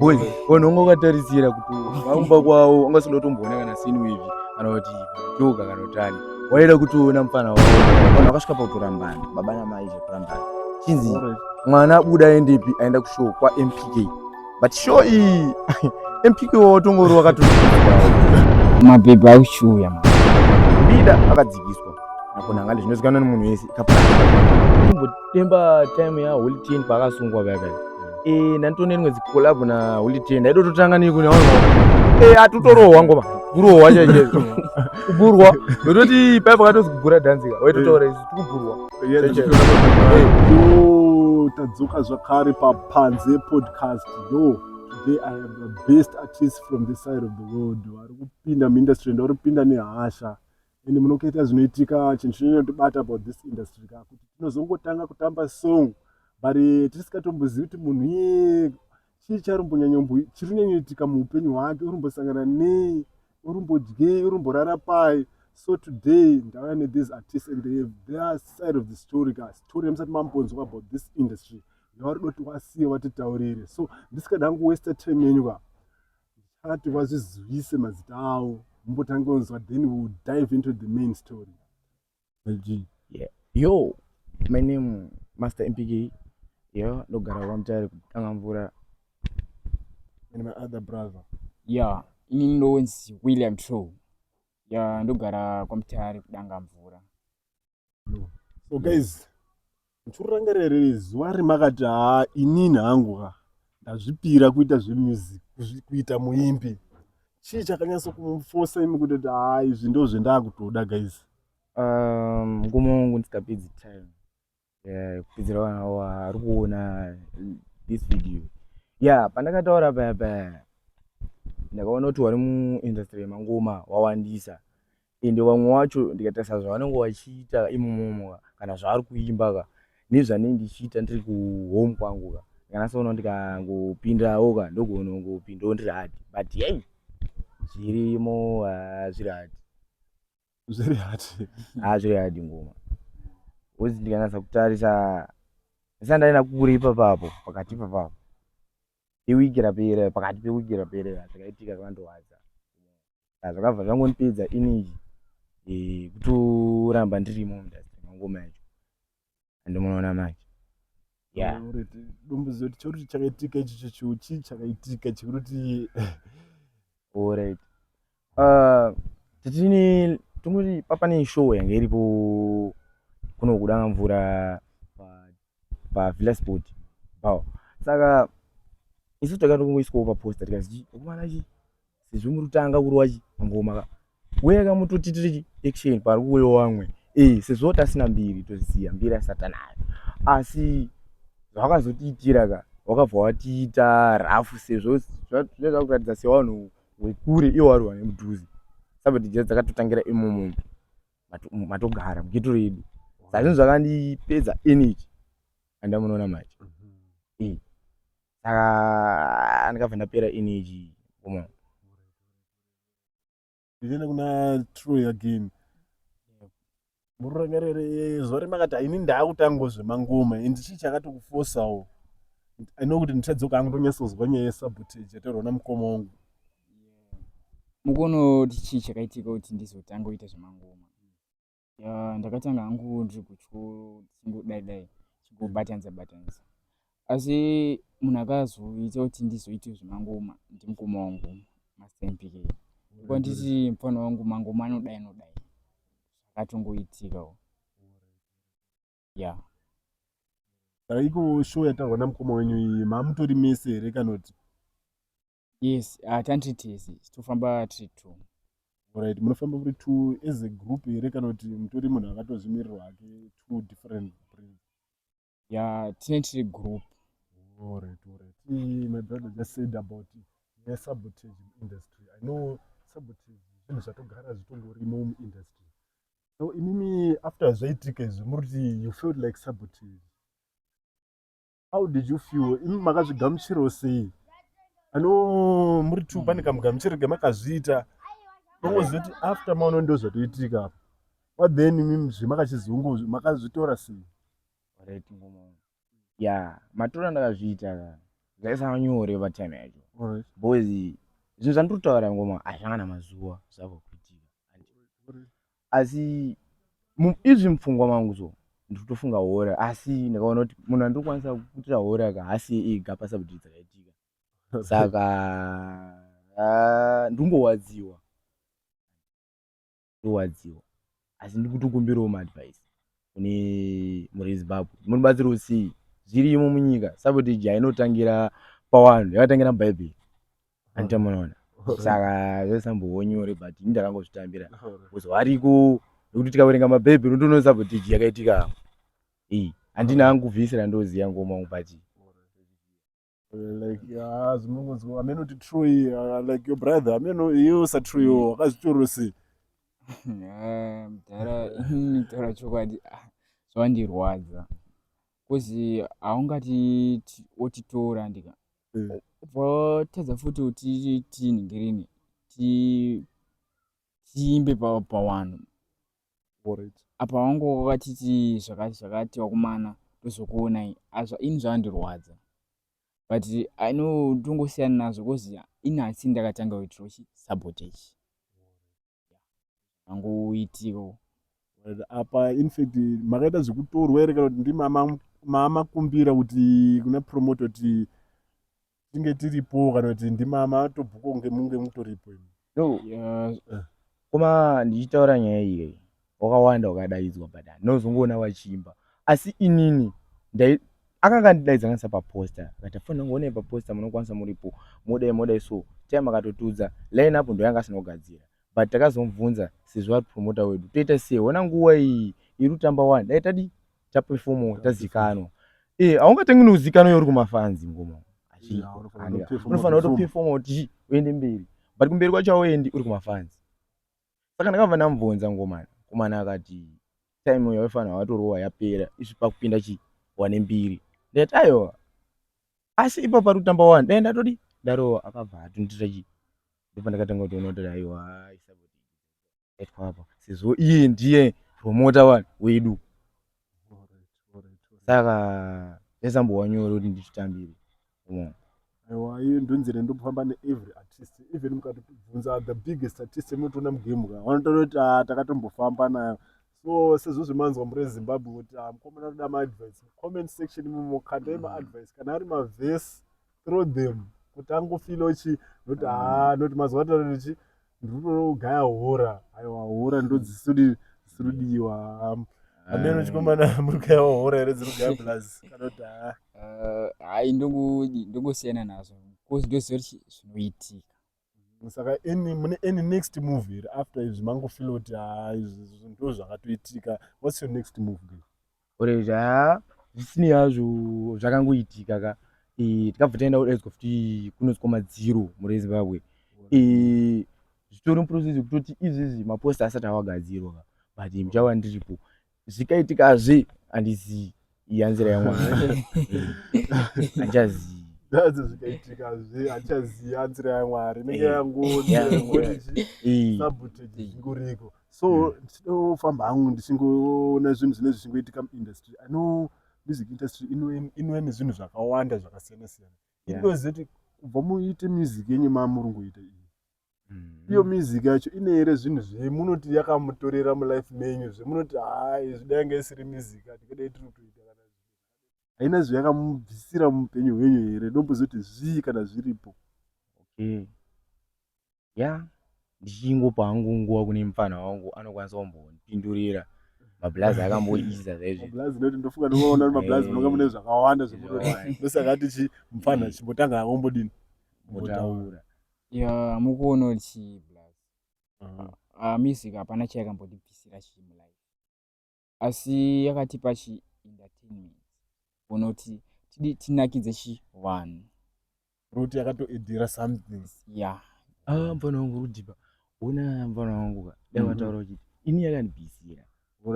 boy vanhu vanga vakatarisira kuti vaumba kwavo vanga singada kutomboona kana sinu ivi kana kuti choka kana utani waida kutoona mufana wavo vanhu vakasvika pakutorambana baba namai zvekurambana chinzi mwana abuda aendepi aenda kushow kwampk but show iyi mpk watongori wakatoo mapepi auchiuya bida akadzikiswa nakonangale zvinozikanwa nemunhu wese Demba time ya Holy Ten pakasungwa kaka. Eh, nantone rimwe zikolabo na Holy Ten. Ndaido totanga ni kuna wanga. Eh, atutorohwa ngoma. Kurohwa chaje. Kuburwa. Ndototi paya pakatozi kubura dance ka. Waitotaura isu tikuburwa. Chaje. Yo, tadzoka zvakare pa Panze podcast. Yo, today I have the best artist from this side of the world. Vari kupinda mu industry, ndori kupinda nehasha. and munokaita zvinoitika chinhu chinotibata about this industry ka kuti tinozongotanga kutamba song but eh, tisikatombozii kuti munhu iye chii charumbonyanyombo chiri kunyanyoitika muupenyu hwake urumbosangana nei urumbodyei urumborara pai so today ndauya nethese artists and they have their side of the story ka story yamusati mambonzwa about this industry yavari doti wasiye vatitaurire so ndisikadangu wester time yenyu ka Ndichati vazvizivise mazita awo mumbotange unzwa then we will dive into the main story. G. Yeah. Yo, my name Master MPK. Yo, ndogara kwa mtare kutanga mvura. And my other brother. Yeah, ini ndonzi William True. Yeah, ndogara kwa mtare kudanga mvura. so guys ndichirangare riri zuva remakati haa inini hangu ka ndazvipira kuita zvemusic kuita muimbi chii chakanyatso kumufosa imi kutoti haa izvi ndo zvendakutoda guys um, ngumo wangu ndisingapedzi time kupedzera vana wari kuona this video ya pandakataura paya paya ndakaona kuti wari muindustry yemangoma wawandisa ende vamwe wacho ndikatarisa zvavanenge vachiita imomomo ka kana zvavari kuimba ka nezvanenge ndichiita ndiri kuhome kwangu ka ndikanasoona ndikangopindawo ka ndogonongopindawo ndiri hadi but yei zvirimo hazviri hadi zviri hadi haa zviri hadi ngoma bcause ndikanasa kutarisa ndisandaina kuri ipapapo pakati ipapapo iwiki rapera pakati pewiki rapera zvakaitika zvandorwadza ah, zvakabva zvangondipedza energy eh, kutoramba ndirimo mundastry mangoma yacho and munoona manje dombuzo kuti chekuti chakaitika ichicho chiu chii chakaitika chekuti orit ah, titini tongoti papa ne show yange iripo kuno kudanga mvura pavilla sport pao saka isu takati kungoiswawo paposta tikazii kumana chii sezvo muri kutanga kurova chi ngoma ka weya ka mutotitire chi action pari kuuya wamwe eh sezvo tasina mbiri toziva mbiri asata nayo asi zvakazotiitira ka wakabva watiita rafu sezvo zvinenge zvakuratidza sevanhu wekure iwo wari wane mudhuze saka tijira dzakatotangira imomo matogara mugeto redu saka zvinhu zvakandipedza energy andamunoona macho mm -hmm. eh. saka ndikabva ndapera energy koma ndichienda kuna troy again mururangarere zuva remakati ini ndaakutango zvemangoma and chii chakatokufosawo ino kuti ndichadzoka angu ndonyatsozwa nyaya yesabotage yataurwa namukoma wangu mukuona kuti chii chakaitika kuti ndizotanga kuita zvemangoma ya ndakatanga hangu ndiri kuchikoro ndichingodai dai chingobatanisa batanisa asi munhu akazoita kuti ndizoite zvemangoma ndimukoma wangu mastmpk ndikuwa nditi mufana wangu mangoma anodai anodai akatongoitikawo ya Saka iko show yataurwa namukoma wenyu iyi mamutori mese here kana kuti Yes, ah, tandiri tese tofamba tiri two. Alright, munofamba muri two as a group here kana kuti mutori munhu akatozvimirirwa hake two different prince? Ya, tine tiri group. Alright, alright. Eh, my brother just said about the sabotage industry. I know sabotage zvinhu zvatogara zvitongorimo muindustry. So imimi after zvaitika izvi muri kuti you felt like sabotage. how did you feel imi makazvigamuchirawo sei ano muri two pane kamugamuchiro kemakazviita tongozoti after maono ndo zvatoitika apa what then imi zvemakachizungu makazvitora sei ya matora ndakazviita zvaisava nyore patime yacho because zvinhu zvandiri kutaura ngoma hazvanga namazuva zvava kuitika asi izvi mupfungwa mangu so ndikutofunga hora asi ndakaona kuti munhu andikwanisa kuitira hora aka hasi ega pasabudiri dzakaitika saka ah, ndingowadziwa ndowadziwa asi ndikutokumbirawo maadvice kune muri zimbabwe muri batsiro usii zvirimo munyika saboti iji hainotangira pawanhu yakatangira mubhaibheri andita munoona saka zvesambowo nyore but ini ndakangozvitambira bcause variko nekuti tikaverenga mabhaibheri unotoona saboti iji yakaitika iyi andina angu kubvisira ndoziya ngoma ungu but like ah zvinongonzwa ameno kuti true iyi ah, like your brother ameno iyo usatruewo wakazvitorwa sei Ah, mudhara ini taura chokwadi ah, zvandirwadza kozi haungati ti- wotitora ndika Eh. votadza futi kuti tiinhingirini ti- tiimbe pa- pawanhu apa vangova vachiti zvakati zvakati vakomana tozokuonai azva ini zvakandirwadza but i know tongosiyana nazvo because ini hasi ndakatanga kuitira uchi sabotage angoitiko apa infact makaita zvekutorwa here kana kuti ndimama kumbira kuti kuna promote kuti tinge tiripo kana kuti ndimama tobhuka kunge munge mutoripo imi no yeah. Eh. koma ndichitaura nyaya iyoyi wakawanda wakadaidzwa but ndinozongoona vachiimba asi inini ndai akanga ndidaidza kanisa paposta akati afanira kunge onei paposta munokwanisa muripo modai modai so time akatotudza line apo ndo yanga asina kugadzira but takazomubvunza sezvo ari promota wedu toita sei hona nguva iyi iri kutamba wani dai tadi tapefomawo tazikanwa ee haungatangi neuzikanwa yauri kumafanzi ngoma unofanira kutopefomawo tichi uende mberi but kumberi kwacho auendi uri kumafanzi saka ndakabva ndamubvunza ngomani komana akati time yaifanira watorova yapera izvi pakupinda chi wane mbiri ndati aiwa asi ipa pari kutamba wani dai ndatodi ndarova akabva atondiita chi ndipo ndakatanga kutoona kuti aiwa epapa sezvo iye ndiye promota wani wedu saka zvaisambova nyore kuti ndititambire aiwa iye ndonzira ndokufamba neevery artist even mukatibvunza the biggest artist munotoona mugemka vanotaura kuti ah, takatombofamba nayo so sezvo zvemanzwa muri ezimbabwe kuti ah, mukomana anoda maadvice comment section imomo kandai maadvice kana ari mavhesi throw them kuti angofila uchi not mm. haa ah, not mazuva atara ndichi ndinotoogaya hora aiwa hora ndodzisudi dzisiridiwa ameno chikomana muri kugaya hora here dziri kugaya plus kana kuti haa ah. eh, hai ndongosiyana nazvo bcause ndoziva kuti zvinoitika saka any mune any next move here after izvi mangu feel kuti haa izvi zvinhu ndo zvakatoitika whats your next move ge oreji haa zvisinei hazvo zvakangoitika ka Eh, tikabva taenda kudaidzwa futi kunozwa madziro mure zimbabwe eh, zvitori muprocess yekutoti izvizi maposta asati awagadzirwa ka but muchava ndiripo zvikaitika hazvi handizii iya nzira yamwari handichazii That's zvakaitika hazvi handichazii iya nzira yamwari inenge Eh, yangonzi yeah, yangonzi Ii. sabotage zvingoriko so ndinofamba hangu ndichingoona zvinhu zvinenge zvichingoitika muindustry i know music industry inoe- inouya nezvinhu zvakawanda zvakasiyana siyana Yeah. inoziva kuti kubva muite music yenyu mamurungoita iyi mm. iyo music yacho ine here zvinhu zvemunoti yakamutorera mulife menyu zvemunoti haa izvi dai nga isiri music atikadai tiri kutoita kana haina zvayakamubvisira muupenyu hwenyu here ndombozoti zvii kana zviripo okay ya ndichingopa hangu nguva kune mupfanha wangu anokwanisa kumbondipindurira mablazi akamboisa zvaizvimablazi noti ndofunga ndinoona kuti mablazi munonga mune zvakawanda zvemuroi ndosaka tichi mupfanha chimbotanga akombodini motaura Yeah, mukuonawo chii plus. Ah, ah, music hapana chayakambotibvisira chii mulife. Asi yakatipa chi entertainment. Unoti tidi tinakidze chi vanhu. Ruti yakatoedhera something. Yeah. Ah, mfana wangu rudipa. Una mfana wangu ka. Dai Mhm. wataura uchiti ini yakandibvisira.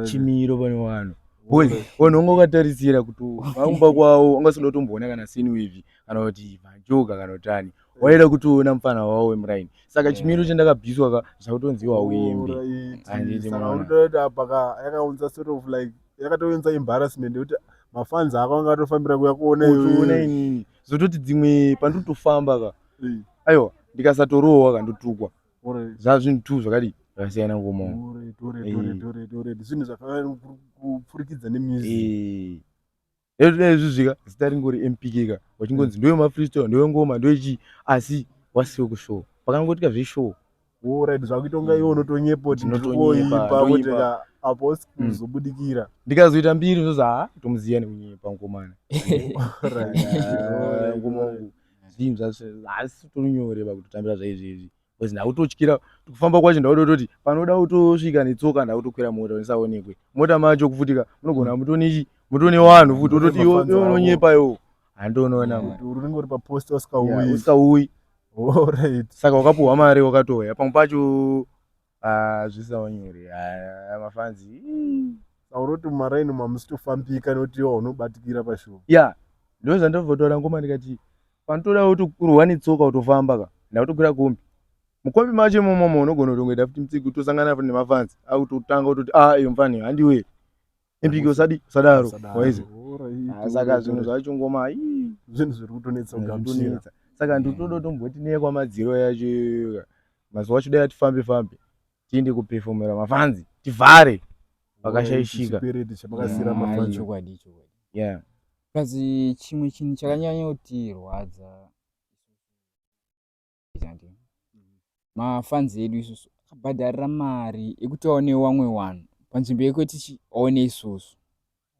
chimiro pane vanhu vanhu vanga vakatarisira kuti vaumba kwavo vanga vasinga tomboona kana sinwivhi kana kuti majoga kana kuti ani waida kutoona mufana wavo wemuraini saka eh. chimiro chandakabviswa ka zvakutonziwa uimbi yakaunza sort of like yakatounza embarrassment yekuti mafanzi ako anga atofambira kuya kuona inini zototi dzimwe pandiri kutofamba ka aiwa ndikasatorohwa ka ndotukwa zvazvinhu two zvakadii zvakasiyana ngomaoezvinhu zvakafanana kupfurikidza nemusic ezvizvika zita ringori mpk ka wachingonzi ndoyo mafreestyle ndoyo ngoma ndoyo chii asi wasiwo kushow pakangoitika zveshow woraid zvakuita kunga iwe unotonyepo tinotoipa apo sikuzobudikira hmm. ndikazoita mbiri zvozi haa tomuziya nekunyepa ngomana zvinhu zvacho haasi utori nyore pakutotambira zvaizvezvi bcause ndakutotyira kufamba kwacho ndakutototi panoda kutosvika netsoka ndakutokwira mota ndisaonekwe mota macho kufutika munogona mm. mutonichi mutone vanhu futi ototi unonyepa iwo handionoona unenge uri papost usikauyi saka wakapuhwa mari wakatoya pamwe pacho Ah zvisaunyore aya mafans ii. Sauroti mumaraini umu hamusitofambika nekuti iwo unobatikira pashow. Yeah ndozvandambotaura ngoma ndikati panotoda kuti kurwa netsoka utofamba ka ndakutokwira kombi mukombi macho imomomo unogona kutongoita futi mutsigo utosangana futi nemafans akutotanga utoti a ah, iyo mfani handiwe Empiki usadi usadaro waize. Saka zvinhu zvacho ngoma ii zvinhu zviri kutonetsa kugamuchira. Saka nditodo tomboti neye kwamadziro yacho mazuva acho dai atifambe fambe tiende kupefomera mafanzi tivhare vakashaishika chokwadi chokwadi kazi chimwe chinhu chakanyanyotirwadza zvake mafans edu isusu akabhadharira mari yekuti aone wamwe wanhu panzvimbo yekuti aone isusu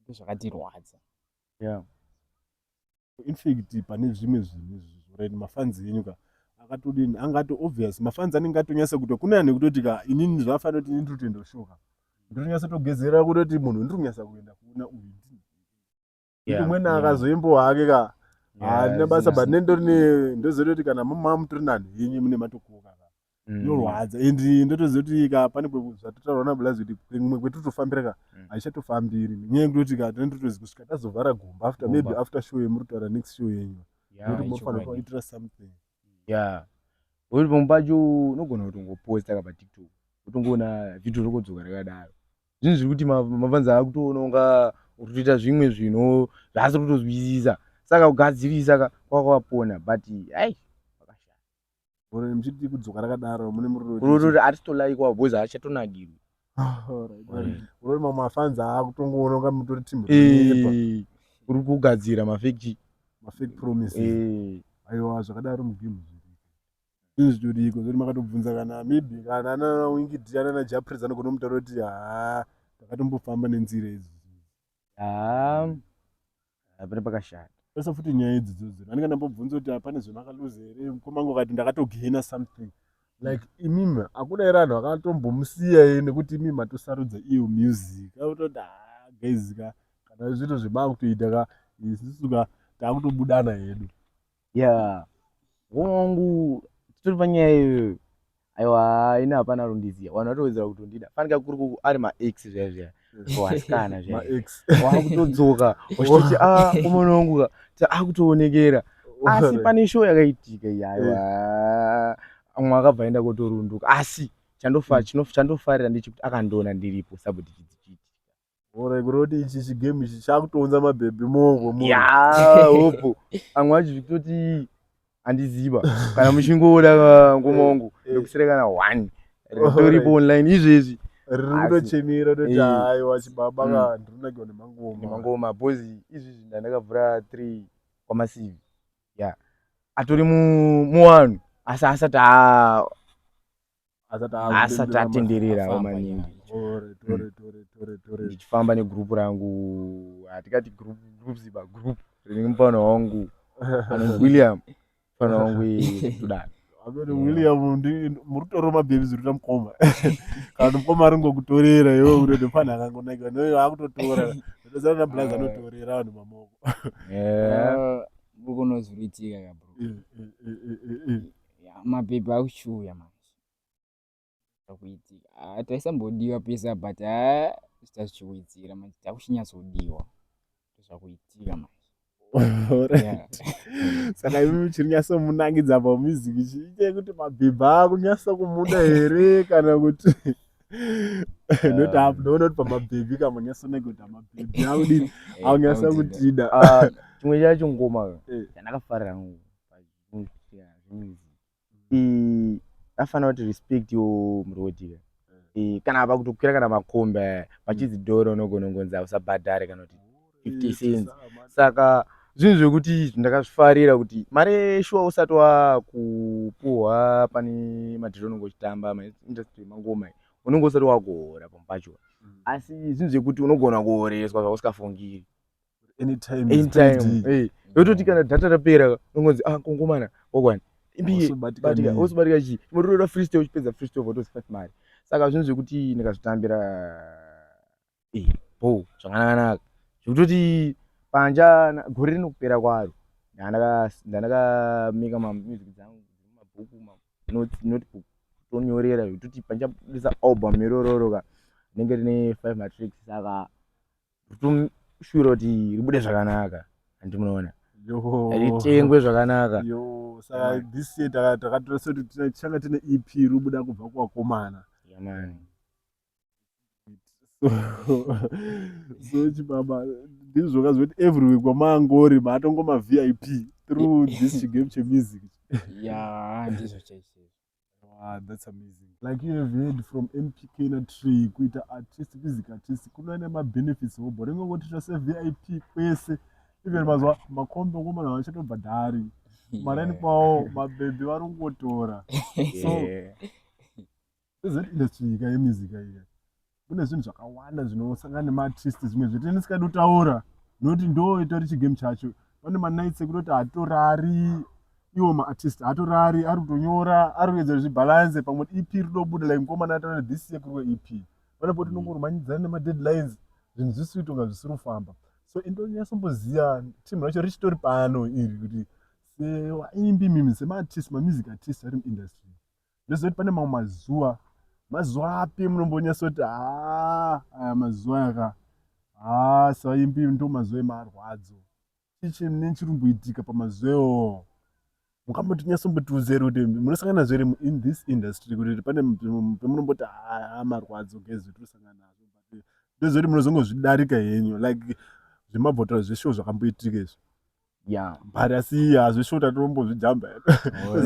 ndozvakatirwadza yeah. infact pane zvimwe zvinhu zvorit mafans enyu ka akatodini anga ato obvious mafans anenge atonyasa kuto kune anhu ekutoti ka inini zvaafanira kuti ini totoenda kushoka ndotonyasa togezera kutoti munhu ndiri kunyasa kuenda kuona uyu yeah, umweni yeah. akazoimbowa hake ka handina yeah, basa but nendori ndoziva kuti kana mama mutori nani yenyu mune matokuka mm. inorwadza and ndotoziva kuti ka pane zvatotaurwa nabulazi kuti kumwe kwetotofambira ka mm. haichatofambiri nenyaya yekutoti ka tine totozi kusvika tazovhara gomba after maybe after show yemuri kutaura next show yenyu noti mofanira kuitira something yeah uri pamwe pacho unogona kutongoposta ka patiktok utongoona vhidhio rokodzoka rakadaro Zvinhu zviri kuti mafans akutoona unga urikutoita zvimwe zvinhu zvaasi kutozwisisa saka kugadzirisa ka kwakavapona but ai Gore mchiti kudzoka rakadaro mune muroro. Kurorori atitolaikwa boys achatonakirwi. Kurori mamwe mafans akutongoona kunga mutori team. Eh. Uri kugadzira ma fake ma fake promises. Eh. Aiwa zvakadaro mu game. Zvinhu zvitoriko zvekuti makatobvunza kana maybe kana nana Winky Dia nana Jah Prayzah anogona kumutaura kuti haa takatombofamba nenzira idzi. Haa haa, pane pakashata. Pesa futi nyaya idzi dzodzo. Nani kana mbobvunza kuti hapana zvemakaluza here mukoma wangu akati ndakatogena something. Like imimi hakuna here vanhu vakatombomusiya here nekuti imimi matosarudza iyo music. Akutoti haa guys ka kana zvinhu zvemakutoita ka isusu ka takutobudana hedu. ya wangu titori panyaya iyoyo aiwa ini hapana rundiziya vanhu vatowedzera kutondida fanika kuri kuku ari maex zvaya zvaya wasikana zvayawakutodzoka wachitoti a umwana wangu ka ta akutoonekera asi pane show yakaitika yaiwa mwe akabva aenda kotorunduka asi chandofarira ndechekuti akandiona ndiripo sabudikidzi Ore kuroti ichi chi game ichi chakutonza ma baby mongo mo. Ya, hopo. Amwe acho zvitoti andiziva. Kana muchingoda ngoma wangu eh, eh. ndokusira kana one. Ritori po online izvezvi. Riri kutochemera toti eh. hayi wachi baba mm. ka ndiri kunakirwa nemangoma. Nemangoma bozi izvezvi ndandakavhura 3 kwa masivi. Ya. Atori mu mu one. Asa asati a asati atenderera maningi ndichifamba negroup rangu hatikati group group ziba group rinenge mufana wangu william mufana wangu tudani amene william murutoro mabhebi zvirita mukoma kana mukoma ari ngokutorera iwe unoti mfana akangonaiwa noyo akutotora ndozana nablas anotorera vanhu mamoko eh, ah, ukunozviritika kabro eh, eh, Yeah, mapepa akuchiuya manje akuitika ah, taisambodiwa pesa but ah, zvichazvichiwedzera manje takuchinyatsodiwa zvakuitika manje saka imi muchiri nyaso munangidza pamusic chiite kuti mabhibha akunyaso kumuda here kana kuti ndotakunoona kuti pamabhebhi kamunyaso nekuti amabhebhi akudini akunyaso kutida chimwe chacho ngoma chandakafarira afana kuti respect yo mrodi eh, kana ava kutokwira kana makomba eh, pachizi mm. doro unogona kungonzi hausabhadhare kana kuti 50 cents saka zvinhu zvekuti ndakazvifarira kuti mari yeshuwa usati wakupuhwa pane madhiri unenge uchitamba maindustry mangoma unenge usati wakuhora pamwe pacho mm. asi zvinhu zvekuti unogona kuhoreswa zvausingafungiri anytime anytime hey yototi kana data rapera unonzi ah kongomana wakwani imbiyebatika wosubatika chii mototoda free stay uchipedza free stay votozi five mari saka zvinhu zvekuti ndikazvitambira eh bo zvakanakanaka zvekutoti panja gore rinokupera kwaro ndandakamika mamusic dzangu dzemumabhuku notebook tonyorera zvekuti panjabudisa album irororo ka rinenge rine five matricks saka kutoshuvira kuti ribude zvakanaka handi munoona ritengwe zvakanaka saka this year takatoresa kuti tichanga tine ep ribuda kubva kuvakomana yamani so chibaba ndizvoka zvekuti every week wamangori maatongoma vip through this chigame chemusic ya ndizvo chaizvo Ah, that's amazing. Like you have heard from MPK na tree kuita artist music artist kuna ne ma benefits ho boring ngo tita se VIP kwese even mazwa makombe ngo mana vacha to badari. Mara ni kwao mabebe vari ngotora. So is it industry ka music ka ika. kune zvinhu zvakawanda zvinosangana nemaartist zvimwe zvete ndisikadi kutaura nokuti ndo itori chigame chacho pane manights ekunoti hatorari iwo maartist hatorari ari kutonyora ari kuedza zvibhalanse pamwe ep rinobuda like mukomana ataura this year kurwe ep pane poti nongorumanidzana nemadeadlines zvinhu zvisiri kutonga zvisiri kufamba so indonyasomboziva team racho richitori pano iri kuti sewaimbi mimi semaartist mamusic artist ari muindustry ndoziva kuti pane mamwe mazuva mazuva api munombonyasa kuti haa aya mazuva yaka haa saimbi ndo mazuva emarwadzo chii chine chiri kumboitika pamazuva iwoo mukamboti nyasombotiudzeri kuti munosangana zvere in this industry kuti pane pemunomboti haa marwadzo gezi tosangana nazvo but ndozoti munozongozvidarika henyu like zvemabhotora zveshow zvakamboitika izvi yeah but asi hazvishota tinombozvijamba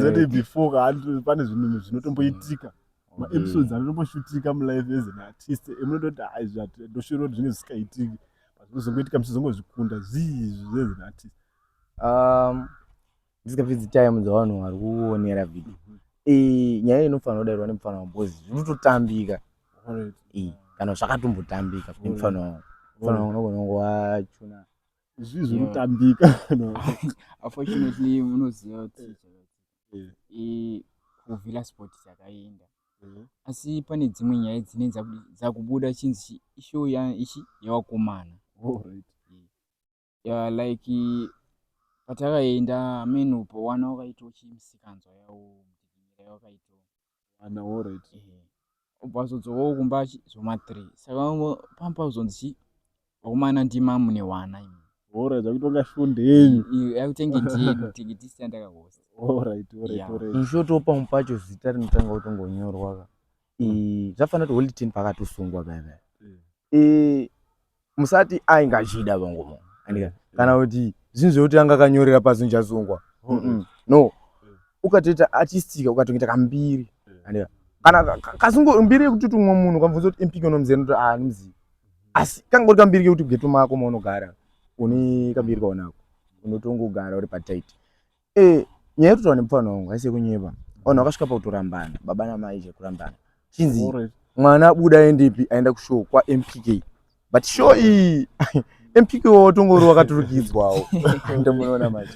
zoti before kaati pane zvinhu zvinotomboitika mm. maepisodes mm. anotomboshutika mulife as an artist emunototi aizvi ndoshuvira kuti zvinge zvisikaitiki but zvinozongoitika muchizongozvikunda zvii zvizi as an artist um, ndisikapfidzi time dzavanhu vari kuonera vhidi mhm. eh, nyaya inofanira kudairwa nemufana wangu bcause zvinototambika eh, kana zvakatombotambika nemufana wangu mufana wangu unogona kunge wachuna zvi zviri kutambika unfortunately munoziva kuti eh. eh, kuvhila sport chakaenda mhm. asi pane dzimwe nyaya dzine dzakubuda chinzi ishow ichi yevakomana oh, eh, like patakaenda ameno pawana wakaitawo chimisikanzwa yawo mutinyira yawakaitawo Wana alright. Eh. Obva azodzokawo kumba achi zvoma 3. Saka pamba uzonzi chi vakomana ndimamu newana imi. Alright, akutonga shunde yenyu. Yakutenge ndiye tikiti sita ndakahosta. Alright, alright, yeah. alright. In short opa mupacho zita rinotanga kutongonyorwa ka. Mm. Eh, zvafanira kuti holy ten pakatosungwa bebe. Eh. eh musati ainge achida vangu andika kana kuti zvinhu zvekuti anga akanyorera pasi ndichasungwa Mm-mm. no ukatoita achistika ukatoita kambiri andika kana ka- ka- kasungo mbiri yekuti kuti umwe munhu ukamubvunza kuti impiki unomuzera noti ah ndimuzivi asi kangori kambiri kekuti geto mako maunogara une kambiri kaunako unotongogara uri patight Eh, nyaya yekuti wane mupfana wangu haisi yekunyeba. Ona wakasvika pakutorambana, baba namai je kurambana. Chinzi Alright. mwana abuda aendepi aenda kushow kwa MPK. But show iyi MPK wotongori wakaturikidzwawo. Ndomuona manje.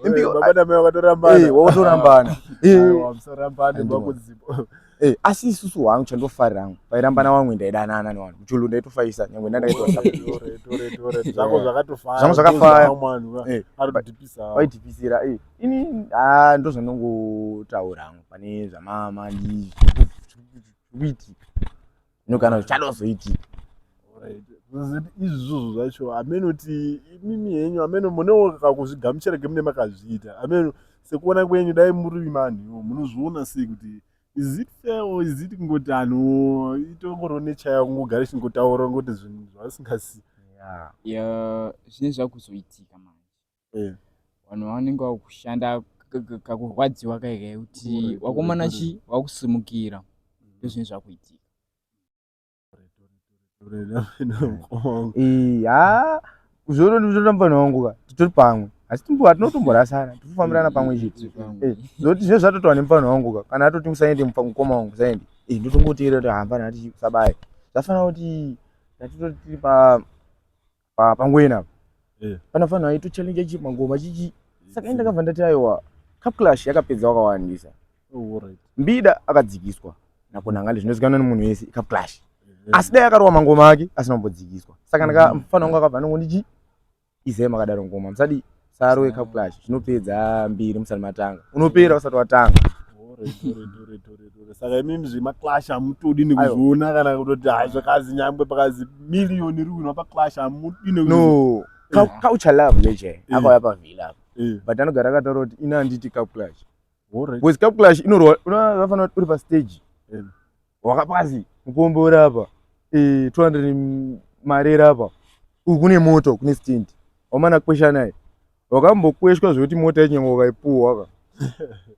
MPK Baba namai Eh, wakatorambana. wakatorambana. Eh, Aiwa, musarambane Andimona. makuzipo. Hey, eh, asi isusu wangu chandofarira hangu pairambana mm. wangu ndaidanana newanhu kuchulu ndaitofaisa nyangwe ndandaitozvangu zvakafayavaitipisira eh, eh, ini ah, ndo zvandongotaura hangu pane zvamama ndikuiti no kana zvichadozoiti izvizvozvo zvacho amene kuti imimi henyu amene munewo kakuzvigamuchira kemune makazviita amene sekuona kwenyu dai muri manhiwo munozviona sei kuti is it fair or is it kungoti anhu itongoro nechaya kungogara chingotaura ngoti zvinhu zvavasingasi yeah. yeah, zvine zvakuzoitika manje Eh. vanhu vanenge vakushanda ka- ka- kakurwadziwa kaikai kuti Gore, wakomana gore, chi wakusimukira ndozvinenge zvakuitika Eh, ah, zvono ndizvona mufana wangu ka titori pamwe asi timbo hatinotomborasana tirikufambirana pamwe chete Eh, zoti zve zvatotawa nemufana wangu ka kana atoti usaende mufa- mukoma wangu usaende Eh, ndotongoteera kuti hambana hati sabaye zvafanira kuti ndatitoti tiri pa pa pangwena eh. panofanirwa aito challenge chi mangoma chichi saka enda kava ndati aiwa cup clash yakapedza wakawandisa oh, right. mbida akadzikiswa nakona ngale zvinozikanwa nemunhu wese cup clash eh. asi dai akarowa mangoma ake asina kumbodzikiswa saka ndaka mm. mfana wangu akabva anongondichi izema akadaro ngoma musadi saro yekapulash zvinopedza mbiri musati matanga unopera usati watanga saka imimi zvemaclash hamutodi nekuzviona kana kutoti hai zvakazi nyangwe pakazi miriyoni iri kuinwa paclash hamudi no culture love leje akauya pavhila apo but anogara akataura kuti ina handiti capclash bcause capclash inoroa unofanira kuti uri pastage wakapasi mukombe uri apa 200 eh, mari iri apa uku kune moto kune stint wamana kwesha naye wakambokweshwa zvekuti mota yachinyange wakaipuhwa ka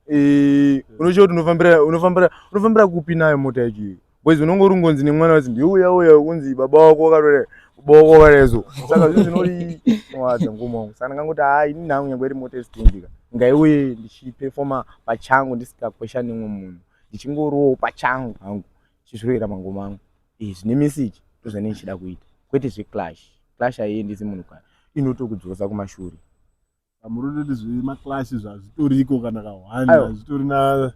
eh, unochiva kuti unofambira unofambira unofambira kupi nayo mota yacho iyo boys unonge uri ngonzi nemwana wati ndiuya uya kunzi baba wako wakarore baba wako wakarezo saka zvinhu zvinori nowadza ngoma wangu saka ndangangoti haa ini nhangu nyange iri mota yestindika ngaiuye ndichipefoma pachangu ndisikakwesha nemwe munhu ndichingorowo pachangu hangu chizviroera mangoma angu eh, zvine message ndozvane ndichida kuita kwete zveclash clash haiendisi munhu kana inotokudzosa kumashure muri toti zvemaclash zvazvitoriko kana kahwani hazvitorina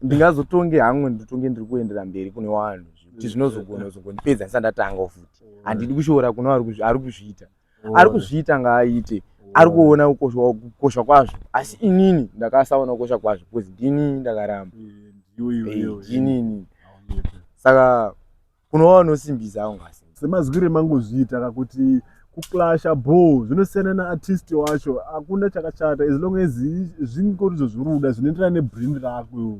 ndingazotonge hangu nditonge ndiri kuendera mberi kune vanhu kuti zvinozogona kuzongonipedza ndisandatanga futi handidi kushora kune ari kuzviita ari kuzviita ngaaite ari kuona kukosha kwazvo asi inini ndakasaona kukosha kwazvo bcause ndini ndakaramba inini saka kunova unosimbisa hangu asi semazwire mangozviita kakuti kuclasha bho zvinosiyana naartist wacho hakuna chakashata as long as zvingorizvo zviri kuda zvinoenderana nebrand rako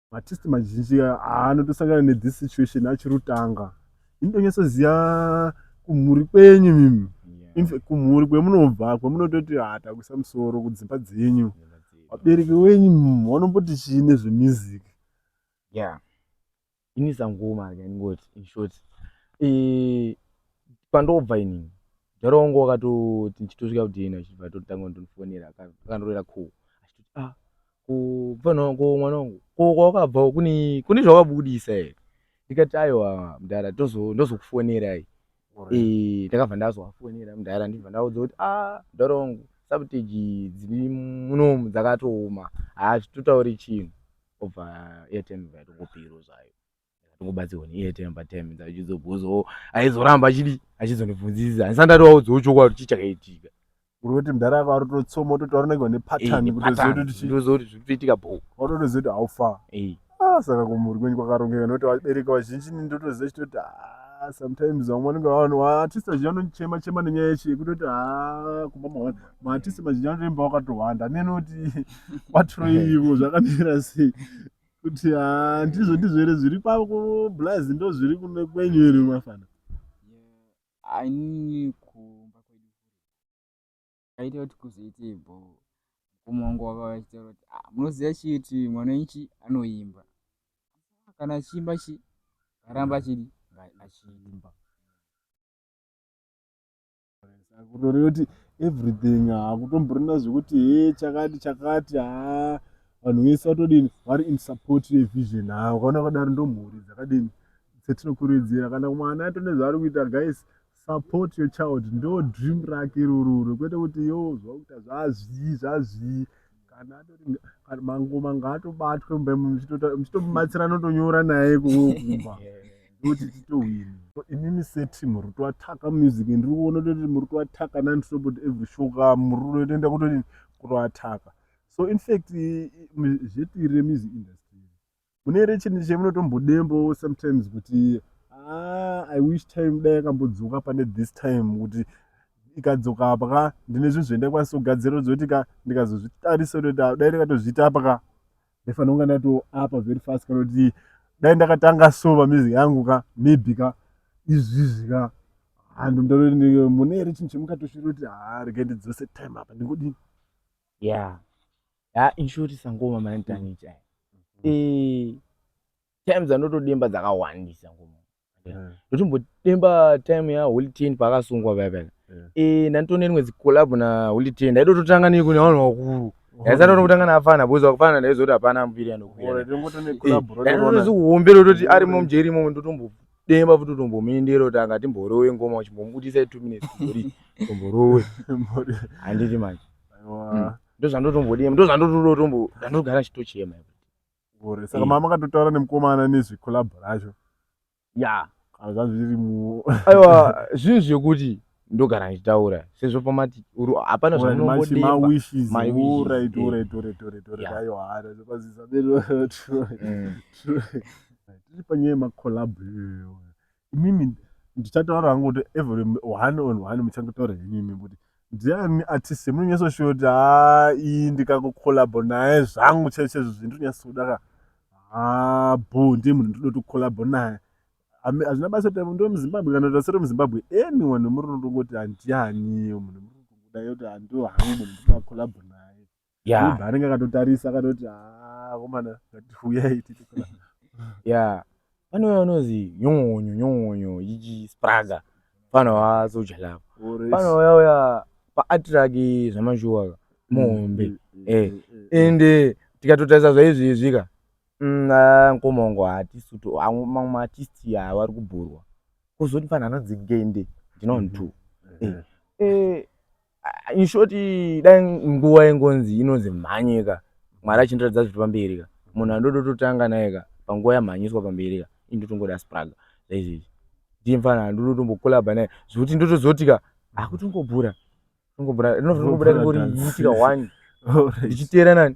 matest mazhinji anotosangana nethis situation achiri kutanga ini tonyatsoziva kumhuri kwenyu mimi kumhuri kwemunobva kwemunototi hatakuisa ah, musoro kudzimba dzenyu vabereki wenyu vanomboti chii nezvemusic ya ini sangoma ndingoti inshort eh, pandobva inini jaro wangu wakatoti ndichitosvika kudena chibva totanga ndonifonera akandirera cool achitoti a ah, kufanongo mwana wangu ko kwawakabvawo kune kune zvawabudisa here ndikati aiwa mdara ndozokufonerai eh, ndakabva ndazoafonera mdara ndibva ndaudza kuti a ah, mdara wangu sabteji dziri munomu dzakatooma haazvitotauri chinhu obva airtime vaitongopiro zvayo ndakatongobatsirwa neiye time by time ndachizobvunza o aizoramba achidi achizondibvunzisa handisa ndatovaudzawo chokwadi kuti chichakaitika uri kuti mudhara ako ari kutotsoma ototaura unenge une pattern Eh, kutoziva pattern. kuti chii. ndoziva kuti zviri kutoitika bho watotoziva kuti how far Eh, Ah, saka kumhuri kwenyu kwakarongeka nokuti vabereki vazhinji ini ndotoziva chitoti ah, sometimes vamwe vanenge vavanhu vaartist vazhinji vanochema chema nenyaya yechi yekutoti ah, kumba mahwanda maartist mazhinji anotoimba wakatohwanda neni kuti kwatiroi ivo zvakamira sei kuti haa ndizvo ndizvo here zviri kwablaz ndo zviri kune kwenyu here mafana ainini kumba kwedu kaita kuti kuzoite bho mukoma wangu wava vachitaura kuti ah, munoziva chii kuti mwana wenchi anoimba kana achiimba chi aramba achidi achiimba kutoreyoti everything hakutomborina zvekuti he chakati chakati haa vanhu vese vatodini vari in support yevision haa ukaona kadaro ndomhuri dzakadini dzetinokurudzira kana mwana ato nezvaari kuita guys support your child ndo dream rake irororo kwete kuti yo zvakuita zvazvii zvazvii kana atori kana mangoma ngaatobatwe mumba imomo muchitota- muchitomubatsira anotonyora naye kuwe kumba ndokuti titohwini inini seteam rutoataka music ndiri kuona toti muri kuataka nani totobut every show ka muri kutoenda kutoti kutoataka so in fact i- i- mu- zvetiri remusic industry mune here chinhu chemunotombodembawo sometimes kuti ah, i wish time dai yakambodzoka pane this time kuti ikadzoka apa ka ndine zvinhu zvendakwanisa kugadzira zoti ka ndikazozvitarisa kuti ah, dai ndakatozviita apa ka ndaifanira kunga ndato apa very fast kana kuti dai ndakatanga so pamizi yangu ka maybe ka izvizvi ka handu mune here chinhu chemukatoshira kuti ha ah, rega ndidzose time apa ndingodii yeah ha inshort sangoma manitanicha mm-hmm. eh times anotodemba dzakawandisa ngoma mm. ndotombodemba time ya holy ten paakasungwa paya paya eh ndanditoona rimwe zikolabho na holy ten ndaitototanga neiko nevanhu vakuru yaisati tokutanga naafana because wakufana ndaizoti hapana ambiri anokuyaombera toti arimo mjeri imomo ndotombo demba futi utombomuendera kuti anga timborowe ngoma uchimbomubudisa two minutes kuri tomborowe handiti manje hmm. ndozvandotombodema ndozvandototombo ndandogara chitochema gore saka mama akatotaura nemukomana nezvecollabo racho ya kana zvanzi zviri mu aiwa zvinhu zvekuti ndogara ndichitaura sezvo pamati hapana zvaunombodembatiri panyaya yemacolab imimi ndichataura hangu kuti every one on one muchangotaura henimi kuti ndiani artist yemunonyasoshuva kuti haa iyi ndikakucolabo naye zvangu chaichezvo zvindinonyasodaka haa bo ndiye munhu ndinotocolabo naye hazvina basa kuti ndo muzimbabwe kana kuti asiri muzimbabwe anyone wemuri unotongoti handianiyo munhu muri kutongoda yoti hando hangu munhu ndina collabo naye yobva anenge akatotarisa akatoti haa komana ngatiuyai titi collabo ya pane uya unozi nyongonyo nyongonyo ichi spraga fana wasoja lapa fana uya uya paatiraki zvamashuwaka muhombe mm, mm, mm, eh, ende tikatotarisa zvaizvi izvika Umm mkoma wangu haatisu tu mamwe maartist awa ari kubhorwa kozoti fanhu anonzi ngende ndinoon mhm. two mhm. eh, eh, inshort dai nguva ingonzi inonzi mhanyika mwari achindiratidza zviri pamberi ka munhu andodototanga naye ka panguva yamhanyiswa pamberi ka indotongoda spraga zaizvezvi ndiye mfana andototombokolabha naye zvekuti ndotozoti ka akutongobhura tongobhura rinotobuda ringori yitika one ndichiteera nani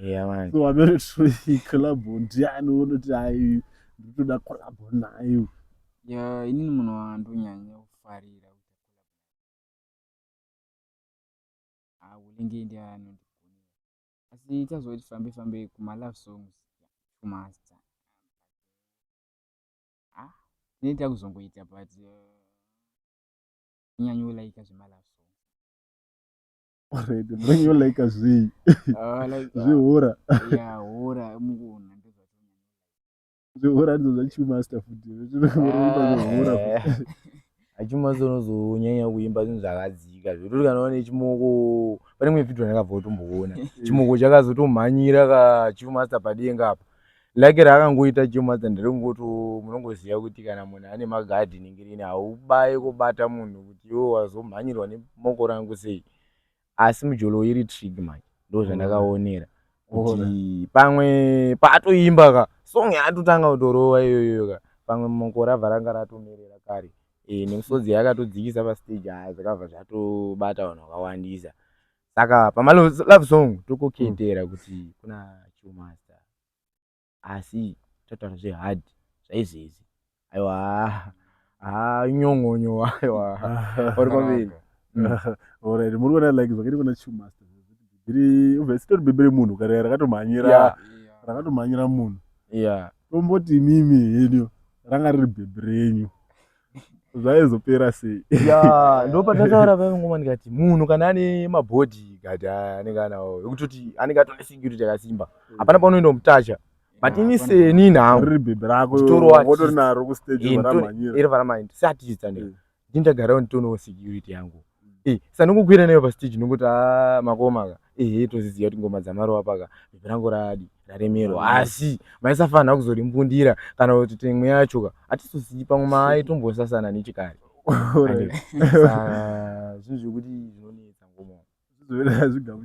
Yeah man. So amene tinoyi collab ndiani unoti hayi ndinotoda collab nayo. Yeah, inini munhu wandonyanya kufarira ah, unenge ndiye anondigona asi tazoti fambe fambe kuma love songs kumasta ah tinenge takuzongoita but uh, nyanya ulaika zvemalove already mwenyo like zvii ah, uh, zvihura zvihura ndizo zvachimasta futi zvinohura achimasta unozonyanya kuimba zvinhu zvakadzika zvekuti kana une chimoko pane mwe vhidhio ndakabva utomboona chimoko chakazotomhanyira kachimasta padenga apa Like rakangoita chema than rekungoto munongoziva kuti kana munhu ane magardening rini haubaye kobata munhu kuti iwe wazomhanyirwa nemoko rangu sei asi mujolo iri trig manje ndozvandakaonera kuti pamwe paatoimba ka song yaatotanga kutorova iyoyo ka pamwe moko rabva ranga ratomerera kare e, nemusodzi yakatodzikisa pastage haa zvakabva zvatobata vanhu vakawandisa saka pamalove song tokokendera mm. kuti kuna chumasta asi totaura zvehard zvaizezi aiwa ha ah, nyong'onyo aiwa uri kwambiri orit mm. muri kuona like zvakaita kuna chumasta bhibhiri ubva sitori bhibhiri munhu kare rakatomhanyira rakatomhanyira munhu tomboti mimi henyu ranga riri bhibhiri renyu zvaizopera sei ya ndopatataura pave ngoma ndikati munhu kana ane mabhodhi kati anenge anawo ekutoti anenge atone security yakasimba mm. hapana paunoenda mutacha but ini seni nhangotorinaro kustage eh, varamhanyira iri varamhanyira seartist andika mm. ndindagarawo nditonewo security yangu Eh, sandingokwira neyo pastage ndinongoti a makoma ka ehe toziziva kuti ngoma dzamarowa paka bhebhi rangu radi raremerwa mm. asi maisafanira kuzorimbundira kana kuti temwe yacho ka hatizosiyi pamwe maitombosasana nechikari zvinhu zvekuti zvinonetsa ngoma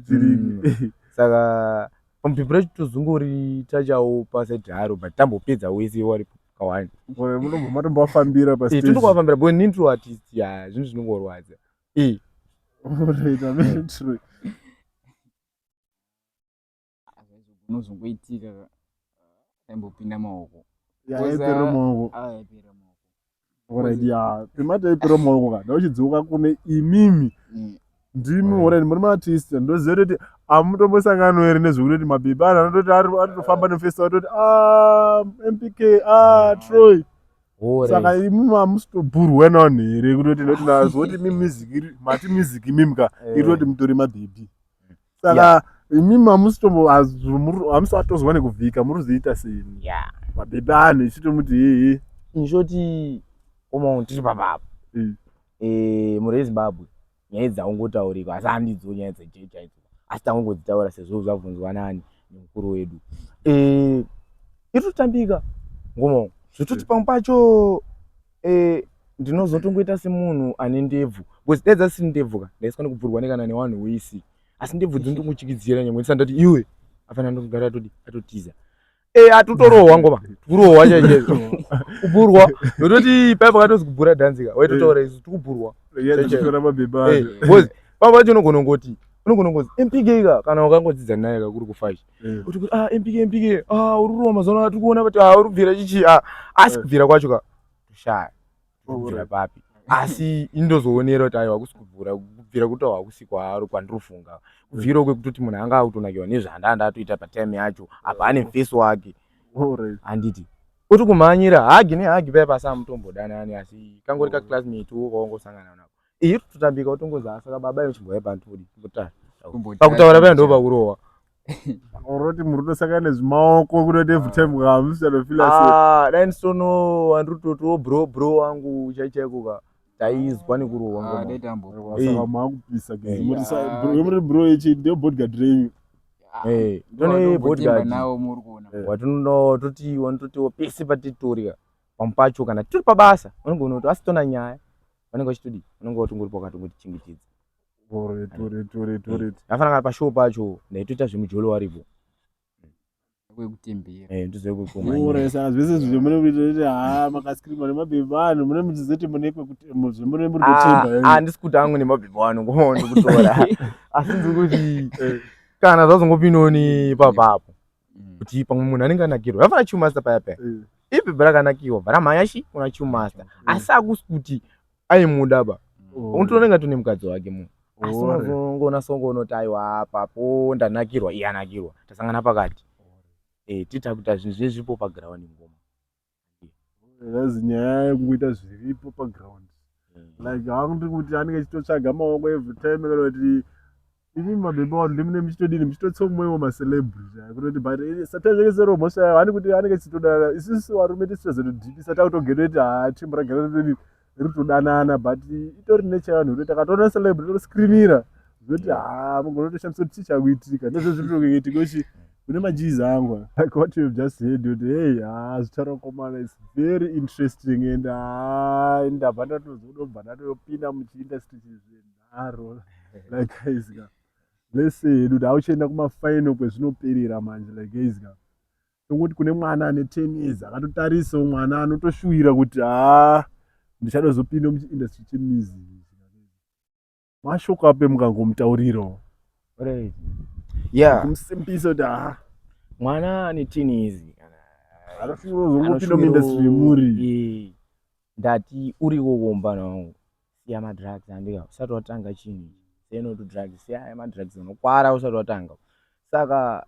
mm. saka pamupepera chitozungori tachawo pasaidharo but tambopedza wese waripo pakawanda munombofambira eh, tinombofambira bo nini tiri artist ya zvinhu zvinongorwadza eh. unozongoitika aimbopinda maoko yaipera maoko Alright, yeah. Pima taipiro maoko kana uchidziuka kune imimi. Mm. Ndimi Alright. already muri maartist ndoziva kuti amutombosangano here nezvekuti kuti mabebi anhu anototi ari anotofamba nefestival atoti ah MPK ah Troy Hure. saka imimi amusitoburwe nani here kutoti noti nazvo kuti mi music iri mati music imimi ka Eh. iri kuti mutori mabebi saka yeah. imi mamusitombo hamusi vatozwa nekuvhika muri kuzoita sei yeah. mabhebhe anhu ichitomuti hehe inshoti omo tiri papapo mm. e, eh, muri ezimbabwe nyaya idzi dzaungotaurikwa asi handidzo nyaya dzeje chaidzo asi tangongodzitaura sezvo zvabvunzwa nani nemukuru wedu e, eh, iri kutambika ngomo zvitoti pamwe pacho eh, ndinozotongoita semunhu ane ndebvu bcause dai dzasiri ndebvu ka ndaiswa nekubvurwa nekana newanhu wese asi ndebvu dzinotongochikidzira nyangwe ndisati ndati iwe afana ndokugara atodi atotiza e eh, atutorohwa ngoma tikurohwa chaizvo kubhurwa nototi paiva katozi kubhura dhanzika waitotaura isu tikubhurwa bcause pava pacho unogona ngoti unogona ngozi mpk ka kana wakangodzidza naye kakuri kufashi mm. kuti ah mpk mpk ah uri roma mazano tiri kuona kuti ah uri kubvira chichi ah asi mm. kubvira kwacho ka shaya kubvira papi asi indozoonera kuti aiwa kusi kubvura kubvira kuti hakusi kwaari kwandirofunga kubvira mm. kwekutoti munhu anga akutonakiwa nezvanda ndatoita patime yacho apa ane mfesi wake handiti uri kumhanyira hagi nehagi paya pasi amutombodanani asi kangori kaclassmate wo kwaongosangana nako iyi tutambika utongozi asaka baba ino chimboya bantu kudi mutari pakutaura paya ndo pakurohwa oroti muri kutosaka nezvimaoko kunoti every time kamusianofila ah, dai ndisono andiri kutotiwo bro bro wangu chaichaiko ka taizwa nekurohwa ah, maakupisa muri bro ichi ndio bodgard renyu ah, eh, tone bodgard eh. watinono toti wanototiwo pese patitorika pamu pacho kana tiri pabasa unogona kuti asitona nyaya vanenge vachitodi vanenge vati ungori pakati ungoti chingichidza afana kana pashow pacho ndaitoita zvemujolo waripo kwekutemberauresa eh, zvese zvizvo mune kuita ha makaskirima nemabhebhi vanhu mune muchizoti mune kwekutembamune muri kutemba ah, handisi kuti angu nemabhebhi vanhu ngomaondi kutora asi ndiri kuti eh. kana zvazongopinoni papapo mm. kuti pamwe munhu anenge anakirwa vafana chumasta paya paya mm. ipi bra kanakiwa bra mayashi una chumasta mm. asi akusi kuti aimuda ba oh. unotoona inga tune mukadzi wake munhu oh. asi unozongona songo unoti aiwa apa po ndanakirwa iye anakirwa tasangana pakati oh. eh, titakuta zvinhu zvinezvipo paground ngoma That's nyaya yekungoita zviripo paground like hakuti kuti anenge achitotsvaga maoko every time kana kuti imi mabhemba vanhu ndimune muchitodini muchitotsomwewo macelebrity kutoti but eh, sometimes yake sero mhosva yavo hani kuti anenge achitoda isisi varume tisitozotodhipisa takutogetoiti haa chimbo ragara todini riri kutodanana but itori nature yevanhu rekuti akatoona celeb rinotoskrinira zvoti haa mugona kutoshandisa kuti chii chakuitika ndozvo zviri kutoitika uchi kune majizi angu like what you have just heard kuti hey haa zvicharokomana its very interesting and haa ndabva ndatozodobva ndatopinda muchiindustry chizvenharo like guys ka lese hedu kuti auchienda kumafinal kwezvinoperera manje like guys ka Tongoti kune mwana ane 10 years akatotarisawo mwana anotoshuwira kuti haa ndichadozopinda muchiindustry chemusic mashoko ape mukangomutaurirawo right yeah kumsimbisa kuti haa mwana ane 10 years anofira kuzongopinda muindustry yemuri ndati uriwo wombana wangu siya madrugs andika usati watanga chinhu ichi seno tudrugs siya aya madrugs unokwara usati watanga saka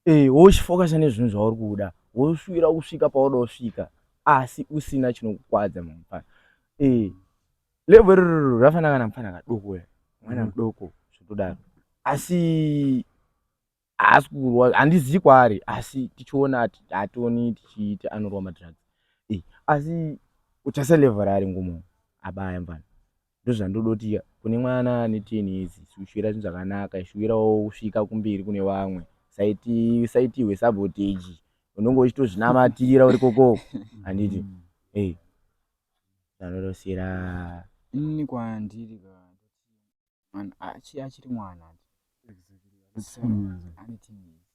eh, wochifokasa nezvinhu zvauri kuda wosvira kusvika pauda kusvika asi usina chinokukwadza mupana eh, levo irororo rafanana kana mupana kadoko mwana mudoko zvotodaro asi haasi kurwa handizivi kwaari asi tichiona ati hationi tichiita anorwa madrugs e asi utarisa level raari ngomo abaya mvana ndozvandodotiya kune mwana ane ten years siushuvira zvinhu zvakanaka ishuvirawo kusvika kumberi kune vamwe saiti saiti hwesabotage unenge uchitozvinamatira uri kokoko handiti mm. e zvanorosira ini kwandiri and achiri achiri mwana ane teenage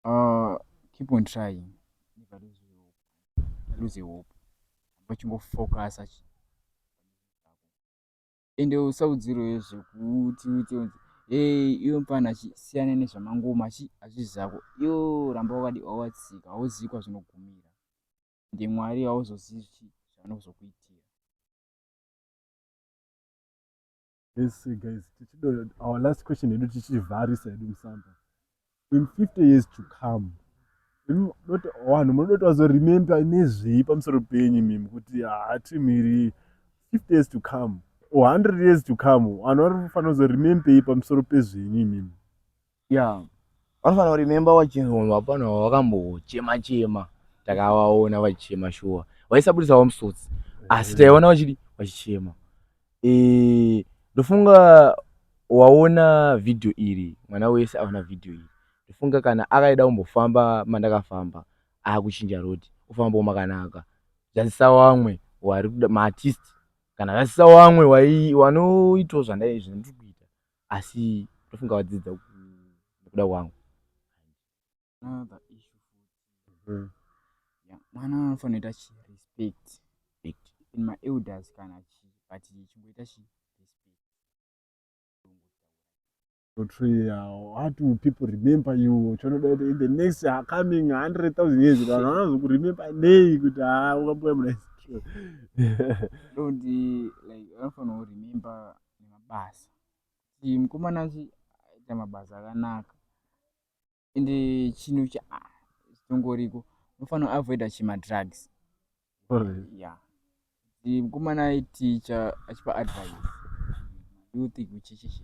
uh, keep on trying never lose hope lose hope vachingofocusa ende usaudziro yezvekuti uite unzi hey iwe mfana siyana nezvamangoma chi hazvizi zvako yo ramba wakadi wawatsika hauzivi kwazvinogumira ndimwari hauzozivi zvanozokuitira Lese guys, tichido our last question yedu tichivharisa yedu musamba. In 50 years to come, vanhu munoda kuti vazoremember nezvei pamusoro penyu mimi kuti hatimiri 50 years to come or 100 years to come vanhu vari kufanira kuzoremembei pamusoro pezvenyu imimi Yeah. Vanofanira kuremember vachinzi munhu hapana wavakambochema chema takavaona vachichema shuwa vaisabudisawo musodzi asi taiona vachidi vachichema eh, ndofunga waona vhidhiyo iri mwana wese aona vhidhiyo iri ndofunga kana akaida kumbofamba mandakafamba akuchinja road ofambawo makanaka zvazisa wamwe wari kuda maartist kana zvazisa wamwe wai- wanoitawo zvandai- zvandiri kuita asi ndofunga wadzidza nekuda kwangu another issue futi mm. yeah, mwana anofanira chi respect in my elders kana chi but chimboita chi how do people remember you chonoda kuti in the next uh, coming hundred thousand years vanhu vanozokuremember nei kuti haa ah, wakamboya muna don't like vanofanira kuremember nemabasa kuti mukomana uyu aita mabasa akanaka ende chinhu chitongoriko unofanira avoida chemadrugs ya kuti mukomana aiticha achipa advice youth kuchichichi